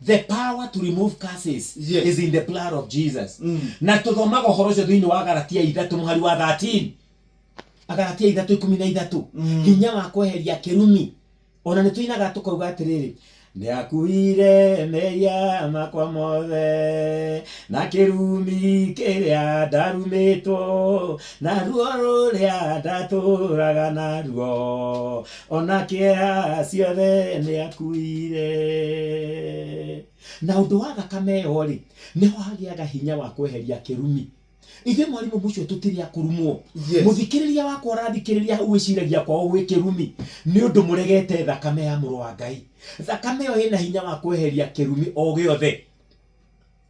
the power to remove curses Yes. is in the blood of jesus Mm. na tũthomaga ũhoro ũcio thĩinĩ wa galatia ithatũ mũhari wa 13 agalatia ithatũ ikũmi na ithatũ Mm. hinya wa kweheria kĩrumi ona nĩ tũinaga tũkauga atĩrĩrĩ nĩ akuire meria makwa mothe na kĩrumi kĩrĩa ndarumĩtwo na ruo rũrĩa ndatũraga naruo ona kĩeha ciothe nĩ akuire na ũndũ wa thakame ĩyo rĩ nĩho hagĩaga hinya wa kweheria kĩrumi ithuĩ mwarimũ mũcio tũtirĩ akũrumwo Yes. mũthikĩrĩria wakwa ũrathikĩrĩria hau gwĩciragia kwao gwĩ kĩrumi nĩ ũndũ mũregete thakame ya mũrũ wa ngai thakame ĩyo ĩna hinya wa kweheria kĩrumi o gĩothe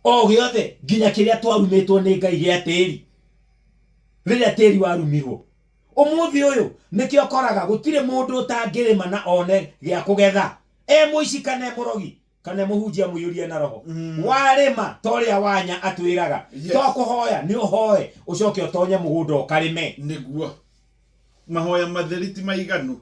o gĩothe nginya kĩrĩa twarumĩtwo nĩ ngai gĩa tĩri rĩrĩa tĩri warumirwo Ũmũthĩ ũyũ nĩkĩo ũkoraga gũtirĩ mũndũ ũtangĩrĩma na one gĩa kũgetha. E mũici kana e mũrogi kana e mũhunjia mũiyũrie na roho. Warĩma ta ũrĩa Wanya atwĩraga, to kũhoya nĩ ũhoe ũcoke ũtonye mũgũnda ũkarĩme. Nĩguo. Mahoya matheri ti maiganu.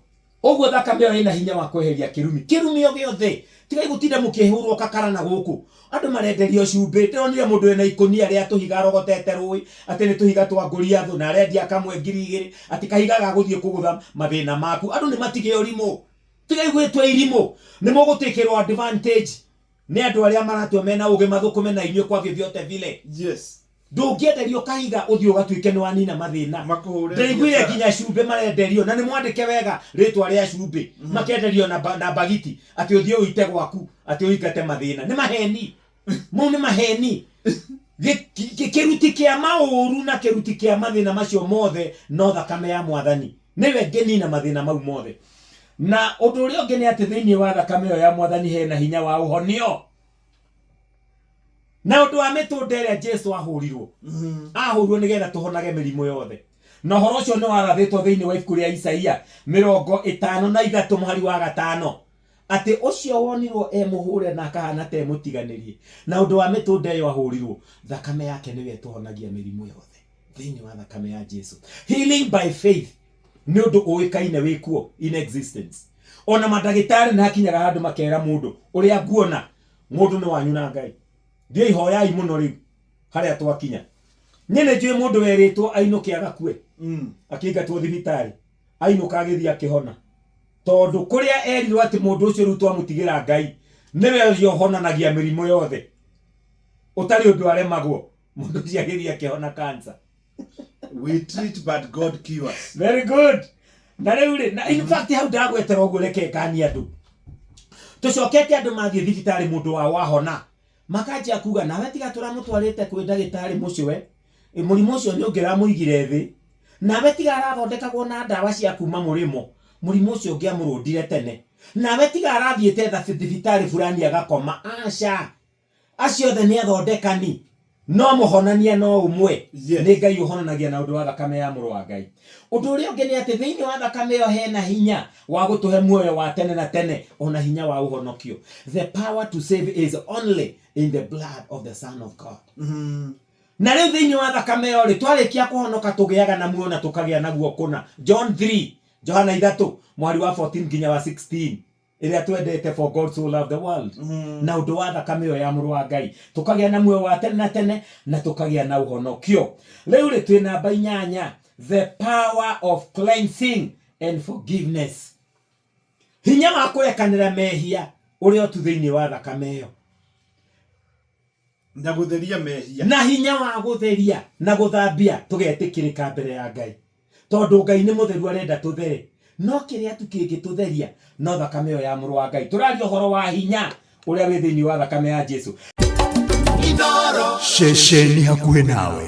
Ũguo thakame ĩyo ĩna hinya wa kweheria kĩrumi, kĩrumi o gĩothe. Tigai gũtinda mũkĩhũrwo kakara na gũkũ. Andũ marenderio cumbĩ. Ndĩronire mũndũ ena ikũnia rĩa tũhiga arogotete rũĩ, atĩ nĩ tũhiga twa Goliathũ, na arendia kamwe ngiri igĩrĩ, atĩ kahiga ga gũthiĩ kũgũtha mathĩna maku. Andũ nĩ matige ũrimũ. Tigai gwĩtua irimũ. Nĩ mũgũtĩkĩrwo advantage. Nĩ andũ arĩa maratua mena ũgĩ mathũkũme na inyuĩ kwa vyovyote vile. Yes. Ndũngĩenderio kahiga ũthiĩ ũgatuĩke nĩwanina mathĩna. Makũhũre Ndaiguire biacara. nginya cumbĩ marenderio na nĩmwandĩke wega rĩtwa rĩa cumbĩ. Makenderio na ba- na bagiti atĩ ũthiĩ ũite gwaku atĩ ũingate mathĩna. Nĩ maheni. Mau nĩ maheni. Gĩ- kĩ- Kĩruti kĩa maũru na kĩruti kĩa mathĩna macio mothe no thakame ya Mwathani. Nĩwe ngĩnina mathĩna mau mothe. Na ũndũ ũrĩa ũngĩ nĩ atĩ thĩinĩ wa thakame ĩyo ya Mwathani he na hinya wa ũhonio. Na ũndũ wa mĩtũnda ĩrĩa Jesu ahũrirwo, ahũrirwo nĩgetha tũhonage mĩrimũ yothe. Na ũhoro ũcio nĩ warathĩtwo thĩinĩ wa ibuku rĩa Isaia mĩrongo ĩtano na ithatũ mũhari wa gatano, atĩ ũcio wonirwo e mũhũre na akahana ta e mũtiganĩrie, na ũndũ wa mĩtũnda ĩyo ahũrirwo, thakame yake nĩyo ĩtũhonagia mĩrimũ yothe. thĩinĩ wa thakame ya Jesu. Healing by faith nĩ ũndũ ũĩkaine wĩ kuo in existence. Ona mandagĩtarĩ nĩ hakinyaga handũ makera mũndũ ũrĩa nguona mũndũ nĩ wanyu na Ngai. Thiĩi hoyai mũno rĩu harĩa twakinya. Niĩ nĩ njũĩ mũndũ werĩtwo ainũke agakue mm. akĩingatwo thibitarĩ ainũka agĩthiĩ akĩhona tondũ kũrĩa erirwo atĩ mũndũ ũcio rĩu twamũtigĩra Ngai nĩwe ũhonanagia mĩrimũ yothe ũtarĩ ũndũ aremagwo mũndũ ũcio agĩthiĩ akĩhona kansa We treat but God cures. very good na rĩu rĩ na in fact hau ndagwetera ũguo reke ngani andũ tũcokete andũ mathiĩ thibitarĩ mũndũ wao wahona makanjia kuga nawe tiga tũramũtwarĩte kwĩ ndagĩtarĩ mũcwe Ĩ, mũrimũ ũcio nĩ ũngĩramũigire thĩ nawe tiga arathondekagwo na ndawa cia kuma mũrĩmo mũrimũ ũcio ũngĩamũrũndire tene nawe tiga arathiĩte tha- thibitarĩ fulani agakoma aca Acio othe nĩ athondekani, no mũhonania no ũmwe, yes. nĩ Ngai ũhonanagia na ũndũ wa thakame ya Mũrũ wa Ngai. Ũndũ ũrĩa ũngĩ nĩ atĩ thĩinĩ wa thakame ĩyo hena hinya wa gũtũhe muoyo wa tene na tene, ona hinya wa ũhonokio. The power to save is only in the blood of the Son of God. Mm -hmm. Na rĩu thĩinĩ wa thakame ĩyo rĩ, twarĩkia kũhonoka tũgĩaga na muoyo na tũkagĩa naguo kũna. John 3, Johana 3, mũhari wa 14 nginya wa 16. ĩrĩa twendete for God so loved the world na ũndũ wa thakame ĩyo ya mũrũ wa ngai tũkagĩa na muoyo wa tene na tene na tũkagĩa na ũhonokio rĩu rĩ twĩ namba inyanya the power of cleansing and forgiveness hinya wa kũrekanĩra mehia ũrĩa ũtu thĩinĩ wa thakame ĩyo na gũtheria mehia na hinya wa gũtheria na gũthambia tũgetĩkĩrĩka mbere ya ngai Tondũ Ngai nĩ mũtheru arenda tũthere. No kĩrĩa tu kĩngĩtũtheria no thakame ĩyo ya Mũrũ wa Ngai. Tũraria ũhoro wa hinya ũrĩa wĩ thĩinĩ wa thakame ya Jesu. Ceceni hakuhĩ nawe.